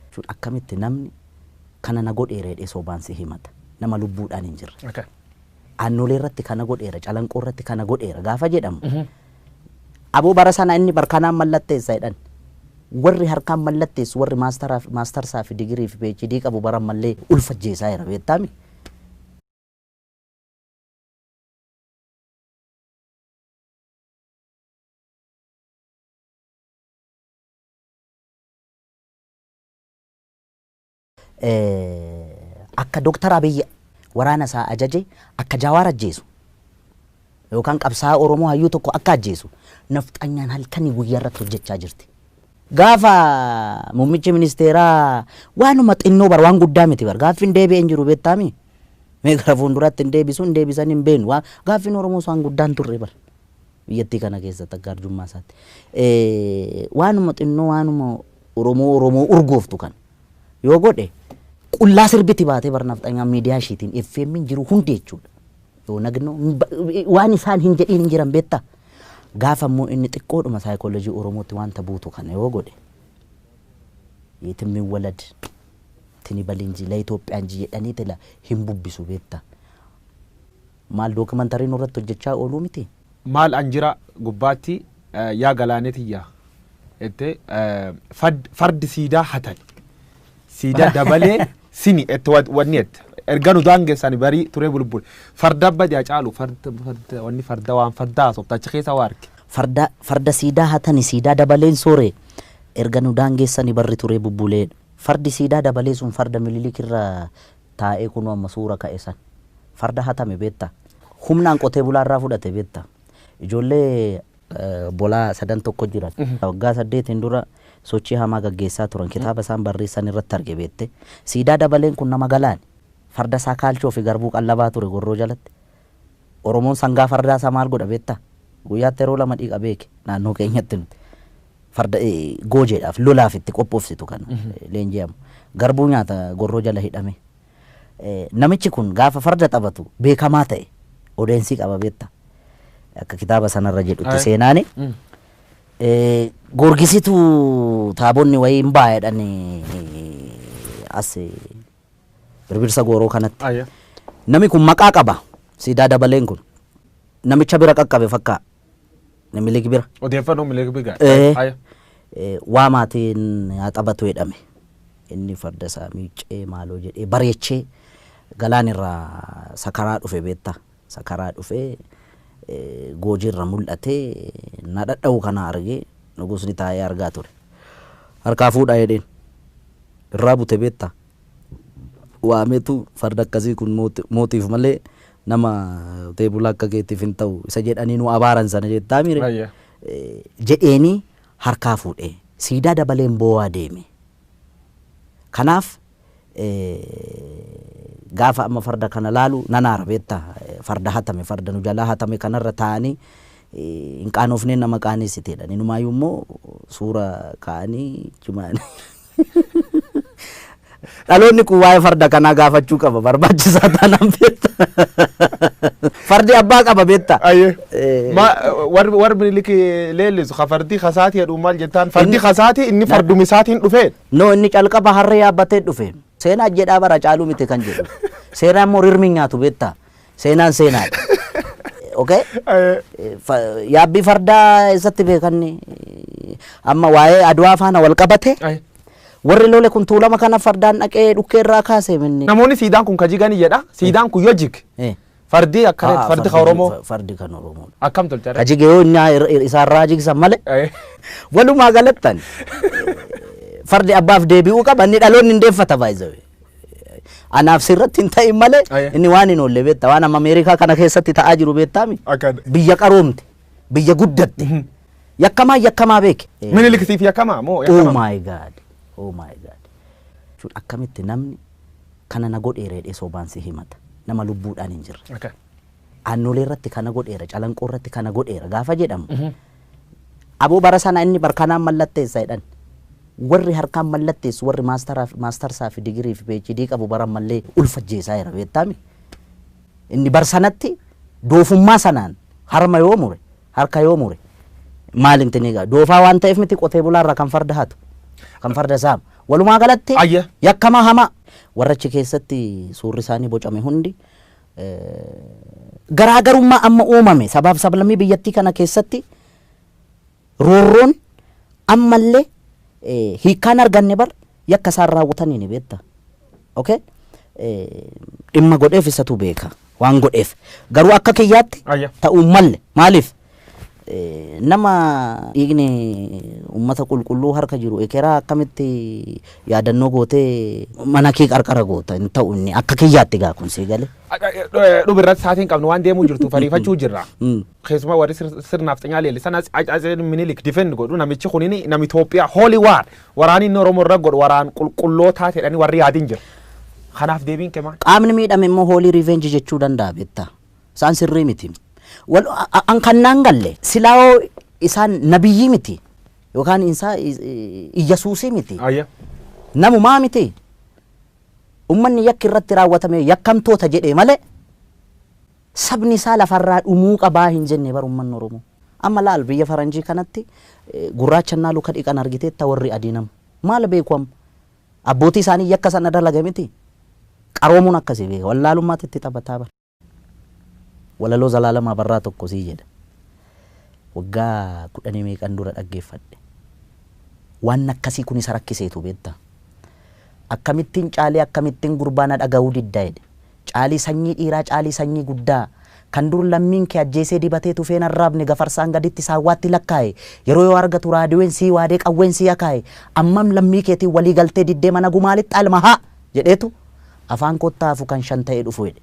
jechuun akkamitti namni kana na godheera jedhee sobaan si himata? Nama lubbuudhaan hin jirre. Okay. Aannolee irratti kana godheera, calanqoo irratti kana godheera gaafa jedhamu. Aboo bara sana inni bar kanaan mallatteessa jedhan. Warri harkaan mallatteessu warri maastaraa fi- maastarsaa fi digirii fi PhD qabu bara ammallee ulfa ajjeesaa jira beektaami. Akka Dr. Abiy waraana isaa ajaje akka Jawaar ajjeesu yookaan qabsaa'aa Oromoo hayyuu tokko akka ajjeesu nafxanyaan halkanii guyyaa irratti hojjechaa jirti. Gaafa muummichi ministeeraa waanuma xinnoo bar waan guddaa miti bar gaaffiin deebi'ee hin jiru beektaami. Mee gara fuulduraatti hin deebisu hin deebisan hin beeknu gaaffiin Oromoos waan guddaan turre bar. Biyyattii kana keessatti akka arjummaa isaatti. Waanuma xinnoo waanuma Oromoo Oromoo urgooftu kana yoo godhe qullaa sirbiti baatee bar nafxanyaan miidiyaa ishiitiin FM'n jiru hundi jechuudha. Yoo nagnoo waan isaan hin jedhiin hin jiran beektaa. Gaafa immoo inni xiqqoodhuma saayikoolojii Oromootti wanta buutu kana yoo godhe yetimmin walad tini balinji la Itoophiyaan ji jedhanii tila hin bubbisu beektaa. Maal documentary nurratti hojjachaa ooluu mitii? Maal an jira gubbaatti yaa galaanee tiyya ette fad fardi siidaa hatani siida dabalee sini ette wad wanni ette erga nu daangessani barii turee bulbul farda badi hacaalu farda farda wanni farda waan farda haasofta achi keessa waa arge Farda farda siidaa hatani siidaa dabaleen soore erga nu daangeessani barri turee bubbulee fardi siidaa dabalee sun farda mililik irra taa'ee kunoo amma suura ka'e san farda hatame beektaa? Humnaan qotee bulaa irraa fudhate beektaa? Ijoollee. obbolaa sadan tokko jiran. Waggaa saddeetiin dura sochii hamaa gaggeessaa turan. Kitaaba isaan barreessan irratti arge beektee? Siidaa Dabaleen kun nama Galaani. Farda isaa kaalchoo fi garbuu qallabaa ture Gorroo jalatti. Oromoon sangaa fardaa isaa maal godha beektaa? Guyyaatti yeroo lama dhiqa beeki naannoo keenyatti nuti. Farda goojeedhaaf, lolaaf itti qophoofsitu kan leenji'amu. Garbuu nyaata gorroo jala hidhame. Namichi kun gaafa farda taphatu beekamaa ta'e. Odeensii qaba beekta. Akka kitaaba sanarra jedhutti seenaani. Goorgisitu taabonni wayii hin baa jedhani as birbirsa gooroo kanatti. Nami kun maqaa qaba. Siidaa dabaleen kun. Namicha bira qaqqabe fakkaa. Minilik bira. Odeeffannoo Minilik bira. Haya. Waa maatiin haa taphatu jedhame. Inni farda isaa miiccee maaloo jedhee bareechee galaan irraa sakaraa dhufe beektaa. Sakaraa dhufee goojii irra mul'atee na dhadha'u kana argee nugusni taa'ee argaa ture. Harkaa fuudhaa jedheen. Irraa bute beektaa. Waameetu farda akkasii kun mootiif malee Nama qotee bulaa akka keetiif hin ta'u isa jedhanii nu abaaran sana jettaamire? Ayya. jedheenii harkaa fuudhe. Siidaa dabaleen boo'aa deeme. Kanaaf gaafa amma farda kana laalu nan aara beektaa? Farda hatame, farda nu jalaa hatame kanarra taa'anii hin qaanoofneen nama qaaneessiteedhan. Inumaayyuu immoo suura kaa'anii jimaan. Dhaloonni kun waa'ee farda kanaa gaafachuu qaba barbaachisaa taanaan beekta. Fardi abbaa qaba beekta. Ayyee. Eh, Ma warri warri miniliki leellisu ka fardii kasaatii jedhu maal jettaan fardii Inni- kasaatii inni farduma isaatiin dhufee No inni calqaba harree yaabbatee dhufe. Seenaa jedhaa bara caaluu miti kan jedhu. Seeraan immoo rirmi hin nyaatu beekta. Seenaan seenaadha. Okay? Eh, Eh, fa- Yaabbii fardaa eessatti beekan amma waa'ee Adwaa faana wal qabate eh. warri lole kun tuulama kana fardaan dhaqee dhukkee irraa kaase minni. Namoonni siidaan kun ka jigan jedha. Siidaan kun yoo jig Eh. fardii akka Ah, reetu fardi ka Oromoo fa- Fardi kan Oromoo. akkam tolcha. Ka jige yoo inni ir- ir- isaarraa jigsan malee Eh. walumaa galattan fardi abbaaf deebi'uu qaba inni dhaloonni hin deeffata baay'ee. Anaaf sirratti hin ta'in malee Aye. inni waan hin oolle beektaa waan amma Ameerikaa kana keessatti ta'aa jiru beektaami. Akka Biyya qaroomte biyya guddatte yakkamaa yakkamaa beeke. Minilik siif yakkamaa moo Oh yakkamaa? my god. Oh my god. Jechuun akkamitti namni kana na godheera jedhee sobaan si himata. Nama lubbuudhaan hin jirre. Akka. Aannolee irratti kana godheera, calanqoo irratti kana godheera gaafa jedhamu Aboo bara sana inni bar kanaan mallatteessa jedhan. Warri harkaan mallatteessu warri maastaraa fi maastarsaa fi digirii fi PhD qabu bara ammallee ulfa ajjeesaa jira beektaami. Inni bar sanatti doofummaa sanaan harma yoo mure harka yoo mure maal intinii gaa doofaa waan ta'eef miti qotee bulaa irraa kan farda hatu kan farda saamu. Walumaa galatti Ayya. yakkamaa hamaa warra achi keessatti suurri isaanii bocame hundi garaagarummaa amma uumame sabaaf sablammii biyyattii kana keessatti roorroon ammallee hiikkaan arganne bar yakka isaan raawwatanii ni beekta. Okay? Dhimma godheef isatu beeka waan godheef garuu akka kiyyaatti ta'uu malle maaliif Nama dhiigni ummata qulqulluu harka jiru ekeraa akkamitti yaadannoo gootee mana kee qarqara goota hin ta'u inni akka kiyyaatti gaa kun sii gale. Dhuma irratti saatiin qabnu waan deemuu jirtu fariifachuu jirra. Keessumaa warri sirnaaf xinyaa leellisan Atseen Minilik difend godhu namichi kun nami Itoophiyaa holy war waraanni inni Oromoo irra godhu waraan qulqullootaa jedhanii warri yaadin jira. Kanaaf deebiin kee maal? Qaamni miidhame immoo hoolii revenge jechuu danda'a beektaa. Isaan sirrii miti. Wal- a- a- An kan naan galle silaa hoo isaan nabiyyii miti yookaan isaa iyyasuusii miti. Ayya. Namumaa miti. Ummanni yakki irratti raawwatame yakkamtoota jedhee malee sabni isaa lafarraa dhumuu qabaa hin jenne bar ummanni Oromoo. Amma laal biyya faranjii kanatti eh, gurraacha naalu ka dhiqan argiteetta warri adii nam. Maal beeku amma? Abbootii isaanii yakka sana dalage miti. Qaroomuun akkasi beeka. Wallaalummaatu itti taphataa bar. Walaloo Zalaalam Abarraa tokko sii jedha. Waggaa kudhanii meeqan dura dhaggeeffadhe. Waan akkasii kun isa rakkiseetu beektaa. Akkamittin caalee akkamittin gurbaa na dhagahuu didda jedhe. Caalii sanyii dhiiraa caalii sanyii guddaa Kan dur lammiin kee ajjeesee dibatee tufeen arraabne gafarsaan gaditti saawwaatti lakkaaye Yeroo yoo argatu raadiween sii waadee qawween sii akaaye Ammam lammii keetiin walii galtee diddee mana gumaa lixxaa ilma haa! jedheetu Afaan kootti haa hafu kan shan ta'ee dhufu hidhe.